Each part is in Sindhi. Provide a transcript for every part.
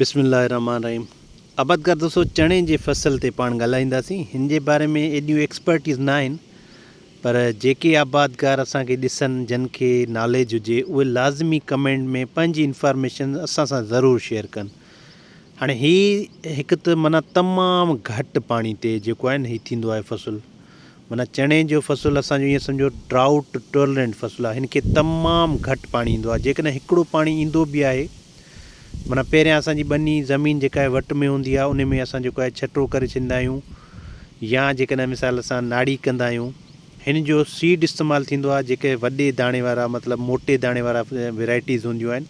بسم الله الرحمٰن الرحيم عبد ڪر دوستو چڻي جي فصل تي پاڻ ڳالهائينداسين هن جي باري ۾ ايڏيون ايڪسپرٽيز نه آهن پر جيڪي آبادگار اسان کي ڏسن جن کي ناليج هجي اهي لازمي ڪمينٽ ۾ پنهنجي انفارميشن اسان سان ضرور شيئر ڪن هاڻي هي هڪ ته معنيٰ تمام گهٽ پاڻي تي جيڪو آهي نه هي ٿيندو آهي فصل معنيٰ چڻي جو فصل اسان جو ائين سمجهو Drought Tolerant فصل آهي، هن کي تمام گهٽ پاڻي ايندو آهي، جيڪڏهن هڪڙو پاڻي ايندو به آهي، معنيٰ پهريان اسان جي ٻني، زمين جيڪا آهي وٽ ۾ هوندي آهي، ان ۾ اسان جيڪو آهي ڇٽو ڪري ڇڏيندا آهيون يا جيڪڏهن مثال اسان ناڙي ڪندا آهيون، هن جو Seed استعمال ٿيندو آهي، جيڪي وڏي داڻي وارا مطلب موٽي داڻي وارا Varieties هونديون آهن،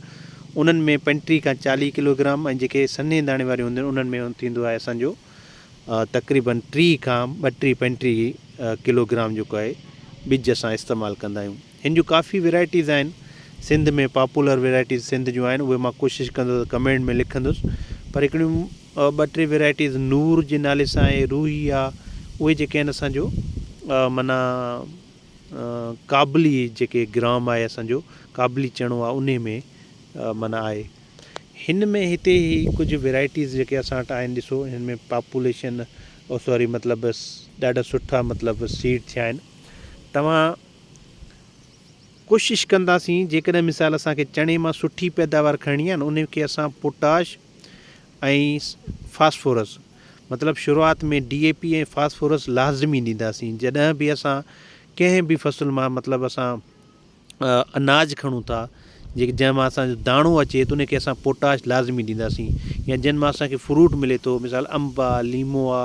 انهن ۾ پنٽيهه کان چاليهه ڪلوگرام ۽ جيڪي سنهي داڻي واريون هونديون آهن، انهن ۾ ٿيندو آهي اسان جو. تقريبن ٽي کان ٻٽيهه پنجٽيهه ڪلوگرام جيڪو آهي ٻج اسان استعمال ڪندا آهيون هن جون ڪافي ويرائٽيز آهن سنڌ ۾ پاپولر ويرائٽيز سنڌ جون آهن اهي مان ڪوشش ڪندو ته ڪمينٽ ۾ لکندس پر هڪڙيون ٻه ٽي ويرائٽيز نور جي نالي سان آهي روهي آهي اهي جيڪي آهن اسانجو منا ڪابلي جيڪي گرام آهي اسانجو ڪابلي چڻو آهي انهي ۾ منا آهي هن ۾ هتي هي ڪجهه ويرائٽيز جيڪي اسان وٽ آهن ڏسو هن ۾ پاپوليشن او سوري مطلب ڏاڍا سٺا مطلب سيڊ ٿيا آهن توهان ڪوشش ڪنداسين جيڪڏهن مثال اسانکي چڻي مان سٺي پيداوار کڻڻي آهي نه ان کي اسان پوٽاش ۽ فاسفورس مطلب شروعات ۾ ڊي اي پي ۽ فاسفورس لازمي ڏينداسين جڏهن به اسان ڪنهن به فصل مان مطلب اسان اناج کڻون ٿا جيڪي جنهن مان اسان جو داڻو اچي ٿو ان کي اسان پوٽاش لازمي ڏينداسين يا جن مان اسانکي فروٽ ملي ٿو مثال انب آ ليمو آ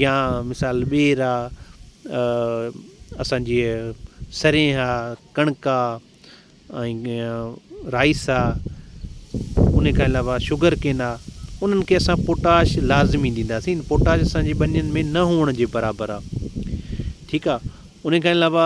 يا مثال ٻير آ اسانجي سرينهن آ ڪڻڪ آ ۽ رائيس آ ان کان علاوه شگر ڪين آ انهن کي اسان پوٽاش لازمي ڏينداسين پوٽاش اسانجي ٻنين ۾ نه هئڻ جي برابر آ ٺيڪ آ ان کان علاوه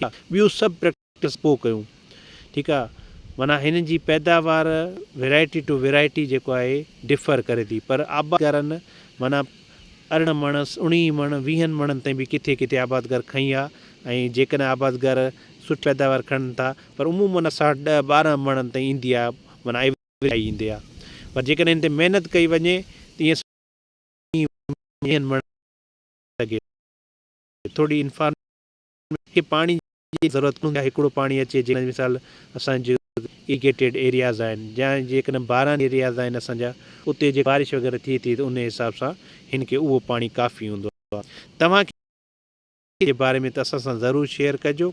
ٺاهيون ٿا ٻيون سڀ پريڪٽس پوء ڪيون ٺيڪ آ معنيٰ هنن جي پيداوار ويرائٽي ٽو ويرائٽي جيڪو آهي ڊفر ڪري ٿي پر آبادگارن معنيٰ ارڙهن مڻ اڻيهين مڻ ويهن مڻن تائين به ڪٿي ڪٿي آبادگار کڻي آ ۽ جيڪڏهن آبادگار سٺي پيداوار کڻن ٿا پر عمومن اساٽ ڏهه ٻارهن مڻن تائين ايندي آ معنيٰ ايوريج آئي ايندي آ پر جيڪڏهن هن تي محنت ڪئي وڃي ته ائين سٺي ويهن مڻن ٿوري انفارميشن کي پاڻي جي ضرورت ڪونه هوندي آهي هڪڙو پاڻي اچي جيڪڏهن مثال اسان جو ايريگيٽيڊ ايرياز آهن جا جيڪڏهن باران ايرياز آهن اسان جا اتي جي بارش وغيره ٿئي ٿي ته انهي حساب سان هن کي اهو پاڻي ڪافي هوندو آهي توهان کي جي باري ۾ ته اسان سان ضرور شيئر ڪجو.